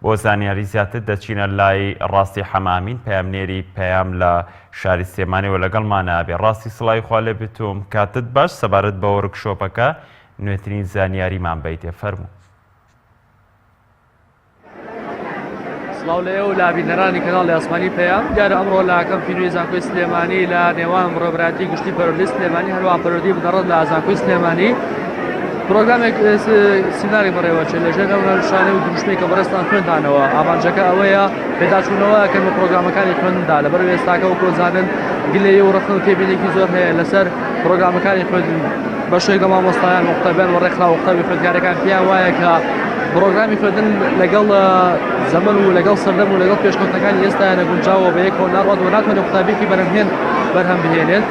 بۆ زانیاری زیاتر دەچینە لای ڕاستی حەمامین پەیامنێری پەیام لە شاری سلێمانیەوە لەگەڵمانە ئەبێ ڕاستی سڵاوی خوا لێ بتوم کاتت باش سەبارەت بە وەرک شۆپەکە نوێترین زانیاریمان بەیتێ فەرموو سڵاو لە ئێو لابینەرانی کەناڵ لە ئاسمانی پەیام دیارە ئەمڕۆ لاکەم فیلمی زانکۆی سلێمانی لە نێوان ڕێبراتی گشتی پەرۆدی سلێمانی هەروە پەرۆدی بدەڕت لە ئازانکۆی سلێمانی پرۆگرامێک سیناریۆی بەڕێوەچێت لەژێر ئەو هەرشانەی و دروشمەی کە بەڕێزتان خوێندانەوە ئامانجەکە ئەوەیە پێداچوونەوە ئەکەن بە پرۆگرامەکانی خوێندندا لەبەر ئێستاکە وەکو دەزانن گلەیی و ڕەخنە و تێبینێکی زۆر هەیە لەسەر پرۆگرامەکانی خوێندن بەشێک لە مامۆستایان و قوتابیان و ڕێکخرا و قوتابی خوێندکارەکان پێیان وایە کە پرۆگرامی خوێندن لەگەڵ زەمن و لەگەڵ سەردەم و لەگەڵ پێشکەوتنەکانی ئێستایانە گونجاوە بە یەکەوە ناڕوات و ناتوانێت قوتابیێکی بەرهەمهێن بەرهەم بهێنێت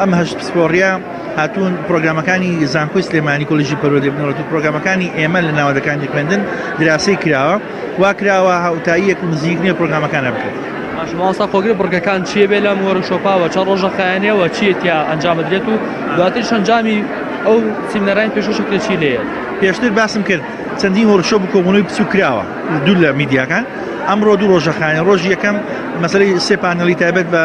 ئەم هەشت پسپۆڕیە هاتوون پرۆگرامەکانی زانکۆی سلێمانی کۆلیژی پەروەردەی بنەڕەت و پرۆگرامەکانی ئێمە لە ناوەندەکانی خوێندن دراسی کراوە وا کراوە هاوتاییەک و نزیک نیە پرۆگرامەکانە بکرێت باش مامۆستا خۆگر بڕگەکان چییە بێ لەم وەرشۆپاوە چەند ڕۆژە خایەنەوە چییە تیا ئەنجام بدرێت و دواتر شەنجامی ئەو سیمنەرانی پێشوەشە کرێت چی لێیە پێشتر باسم کرد چەندین وەرشۆ بکۆبوونەوەی بچوو کراوە دوو لە میدیاکان ئەمڕۆ دوو ڕۆژە خایەن ڕۆژی یەکەم مەسەی سێ پانەڵی تایبەت بە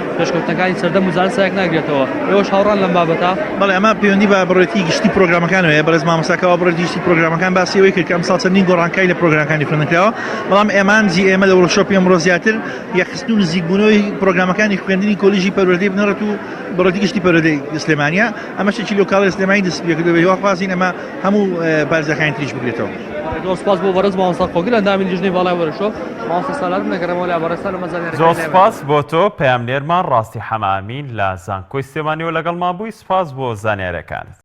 پێشکەوتنەکانی سەردەم و زانست سایەک ناگرێتەوە، ئێوەش هاوڕان لەم بابەتە؟ بەڵێ، ئەمە پەیوەندی بە بڕێتی گشتی پرۆگرامەکان هەیە، بەڕێز مامۆستا کاوە بڕێتی گشتی پرۆگرامەکان باسی ئەوەی کرد کە ئەمساڵ چەندین گۆڕانکاری لە پرۆگرامەکانی خوێندنکراوە، بەڵام ئامانجی ئێمە لە وۆرکشۆپی ئەمڕۆ زیاتر یەکخستن و نزیکبوونەوەی پرۆگرامەکانی خوێندنی کۆلیژی پەروەردەی بنەڕەت و بڕێتی گشتی پەروەردەی سلێمانییە، ئەمەش چەکی لۆ کاڵای سلێمانی دەستیپێکردووە، بەهیواخوازین ئەمە هەموو پارێزگاکانی تریش بگرێتەوە. زۆر سپاس بۆ بەڕێز مامۆستا خۆگر ئەندامی لیژنەی باڵای وەرشۆف مامۆستا سالار بنەگەڕێمەوە لای بەڕێزتان لەمە زانیاریەکانی زۆر لای بەرێز سپاس بۆ تۆ پەیامنێرمان ڕاستی حەمە ئەمین لە زانکۆی سلێمانیەوە لەگەڵمان بووی سپاس بۆ زانیاریەکانت.